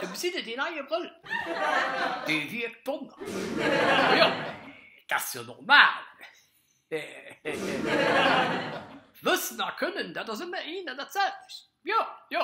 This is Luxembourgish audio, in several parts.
Du besitte dee neie Brëll, dee wierkt Donner. Jo, dat ass jo normal. Wëssen a Kënnen, dat ass ëmmer een an dat selwecht. Jo, jo.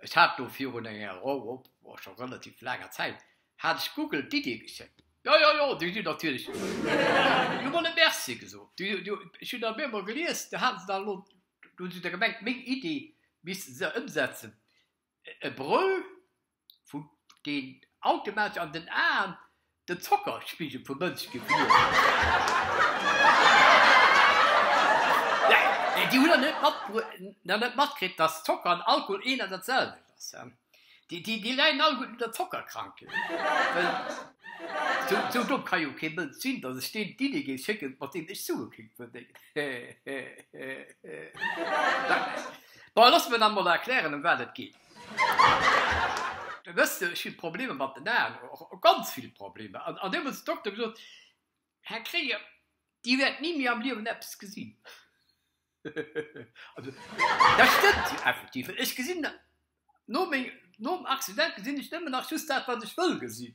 Ech hat do virun enger, o, o, o, scho relativ laanger Zäit, hat ech Google d'Iddi geschéckt. Jo, jo, jo, déi sinn natierlech. Déi hu mer net Merci gesot. Ech hunn dat emol gelies, do hate se dann elo Do hunn se da gemengt, meng Iddi misste se ëmsetzen. E Bröll vun deen automatesch an den Aen den Zockerspigel vum Mënsch gewiert huet. Déi hunn nach net matkritt, datt Zocker an Alkohol een an dat selwecht ass. Déi leien all gutt un der Zockerkrankheet. Sou domm ka jo kee Mënsch sinn, datt ech deem d'Idee géif schécken, mat deem ech Sue kéint verdéngen. Bon, loosse mer dann mol erklären, ëm wat et geet. Wësst Dir, ech hunn Problemer mat den Aen, ganz vill Problemer. An deemools huet den Dokter gesot, Här Krieger, Dir wäert ni méi am Liewen eppes gesinn. Dat stëmmt jo effektiv, well ech gesinn no meng, nom Accident gesinn ech nëmmen nach just dat, wat ech wëll gesinn.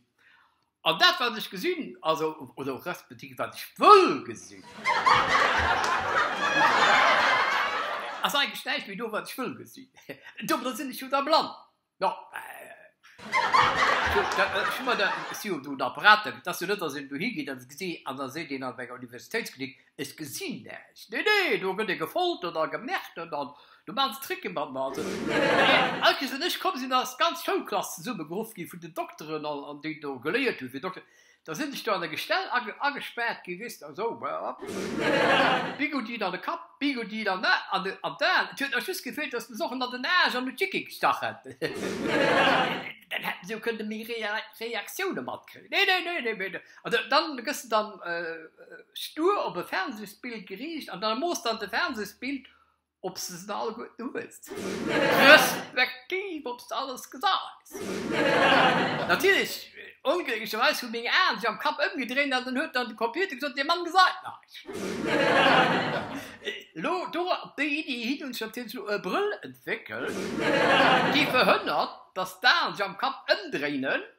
An dat, wat ech gesinn, also, oder respektiv wat ech wëll gesinn, ass eigentlech näischt méi do, wat ech wëll gesinn. Domadder sinn ech jo da blann. Jo, ech hu mer dat, et si jo do en Apparat, et ass jo net, datt een dohi geet a se gesi, an da seet een an enger Universitéitsklinik, ech gesinn näischt. Nee, nee, do gëtt ee gefoltert a gemärtert an do maachen se Tricke mat mer. Also, all Kees, wéi ech komm sinn, ass d'ganz Schoulklass zesummegeruff gi vun den Dokteren, déi do geléiert hunn fir Dokter. Da sinn ech do an der Gestell agespaart ginn, weess de, esou, Bigoudien an de Kapp, Bigoudien an d'Aen, et huet nach just gefeelt, dass de se och ënner den Aarsch an de Chicky gestach hätt, dann hätten si jo kënne méi Reaktioune matkréien. Nee, nee, nee, nee, nee. An dann gëss de dann stur op e Fernsehsbild geriicht an da moosst dann de Fernsehsbild Obs de se all guet uhuels. Respektiv obs de alles geseis. Natierlech, onglécklecherweis hu meng Aen sech am Kapp ëmgedréint an dann huet dann de Computer gesot, Dee Mann gesäit näischt. Elo, do op déi Iddi hin, hunn ech natierlech elo e Brëll entwéckelt, dee verhënnert, dass d'Aen sech am Kapp ëmdréinen.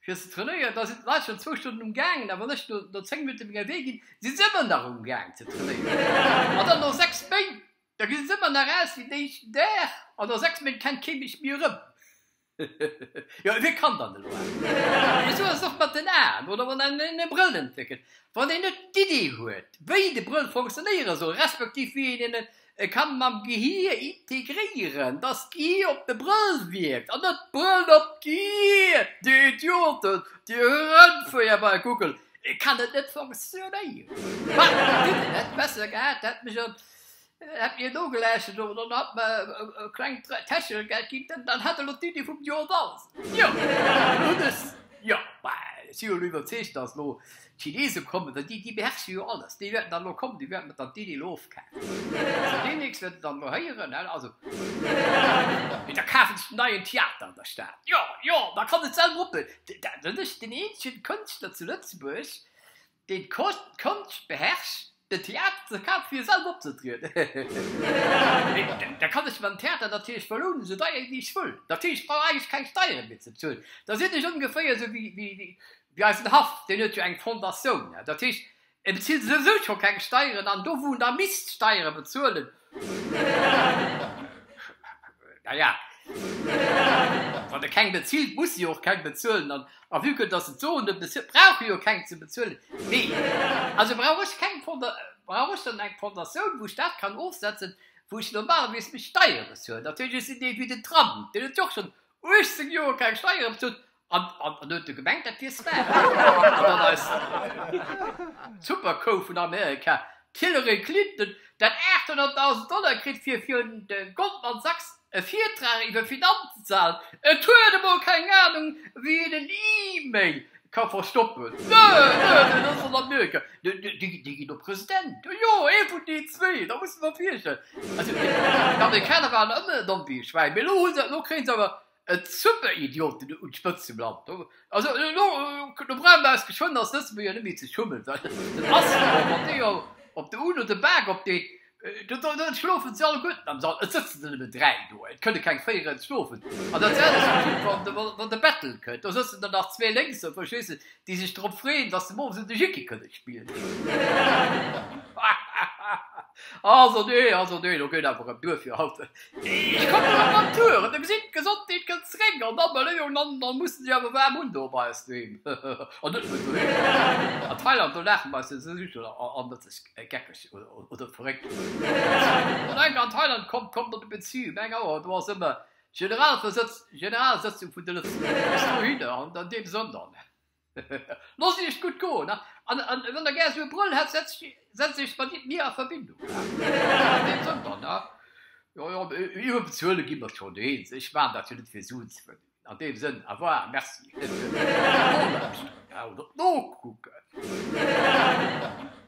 Fir se trainéieren, da sinn d'Leit schonn zwou Stonnen um Gaangen, a wann ech no zéng Minutte meng Ewéi ginn, si se ëmmer nach um Gaang ze trainéieren. An dann no sechs Méint, da gi se ëmmer nach aus wéi den éischten Dag, an no sechs Méint kennt kee mech méi erëm. Jo, ewéi kann dann elo awer? Esou ass et och mat den Aen, oder wann een e Brëll entwéckelt, wann een net d'Iddi huet, wéi de Brëll fonctionéiere soll, respektiv wéi een en E kann mam Gehier integréieren, dass d'Gehier op de Brëll wierkt an net d'Brëll op d'Gehier. Dir Idioten, Dir Rëndvéier bei Google, et kann et net fonctionnéieren. Wat mer dinn, et hätt besser gehat, hätt mech an, hätt mir nogelauschtert oder dann hat mer e klengt Täschegeld ginn, dann hätt elo d'Iddi vum Joer da sinn. Jo, elo hunn ech, jo, bah, si jo elo iwwerzeegt, dass elo D'Chinese kommen dann, déi beherrschen jo alles, déi wäerten dann elo kommen, déi wäerten et dann d'Iddi elo ofkafen. Zu Demnächst wäert Der dann elo héieren, also, mee da kafen ech den neien Theater an der Stad, jo, jo, da kann et selwer ophuelen, dann sinn ech den eenzegen Kënschtler zu Lëtzebuerg, deen d'Konscht beherrscht, Den Théâtre de Quatre Fir selwer opzetrieden. Da kann ech mam Theater natierlech belounen, esou deier wéi ech wëll. Dat heescht, ech brauch eigentlech keng Steiere méi ze bezuelen. Da sinn ech ongeféier esou wéi eisen Haff, deen huet jo eng Fondatioun. Dat heescht, e bezilt esou scho keng Steieren an do, wou en da misst Steiere bezuelen, Naja, wann e keng bezilt, muss e jo och keng bezuelen. An a vue que dass et d'Soen net bezilt, brauch e jo keng ze bezuelen. Mee also brauch ech keng Fonda, brauch ech dann eng Fondatioun, wou ech dat kann ofsetzen, wou ech normalerweis meng Steiere bezuelen? Natierlech, ech sinn dee vue den Tram, deen huet jo och schonn 18 Joer keng Steiere bezuelt An en huet e gemengt, dat wier Sven. An dann eis Superkou vun Amerika, d'Hillary Clinton, dat 800.000 Dollar kritt, fir virun de Goldman Sachs e Virtrag iwwer Finanzen ze halen. Et huet emol keng Anung, wéi een en E-Mail ka verstoppen. Nö, nö, dat ass an Amerika. Déi ginn och President. Jo, ee vun deenen zwee. Da muss de mer virstellen. Also, déi Amerikaner waren ëmmer en Ambigu-Schwäin, mee elo hu se et, elo kréie se awer E super Idioten un d'Spëtzt ze planten, also elo brauche mer eis geschwënn als Lëtzebuerger net méi ze schummen, well den Asselborn, wann dee op der UNO de Bak opdeet, dann schlofen se alleguerten am Sall, et sëtzen der nëmmen 3 do, et kënne keng 4 eran schlofen, an dat selwecht geschitt wann de Bettel kënnt, do sëtzen der nach zwee lénks, verstees de, déi sech drop freeën, dass se muer erëm de Jhicki kënne spillen. Also nee, also nee, do geet awer en duer fir haut. Ech kommen an d'Natur an da gesinn d'Gesondheet gëtt zréck an d'Abeleeëun an da musse si awer waarm un do bei eis doheem an net méi doheem. An Thailand, do laachen mer eis net esou scho an net sech geckeg oder verréckt. Wann eng an Thailand kommt, kommt op de Bezihu, meng Auer, do ass ëmmer D'Generalsëtzung vun de Lëtzebuerger ass elo hinner an an deem Sënn dann, Loosst Iech et gutt goen a wann Der gär esou e Brëll hätt, setzt Iech mat mir a Verbindung. An deem Sënn dann, jo, jo, iwwer bezuele gi mer eis schonn eens, ech maachen dat jo net fir Suen ze verdingen. An deem Sënn, au revoir, merci. Op d'Nokucken.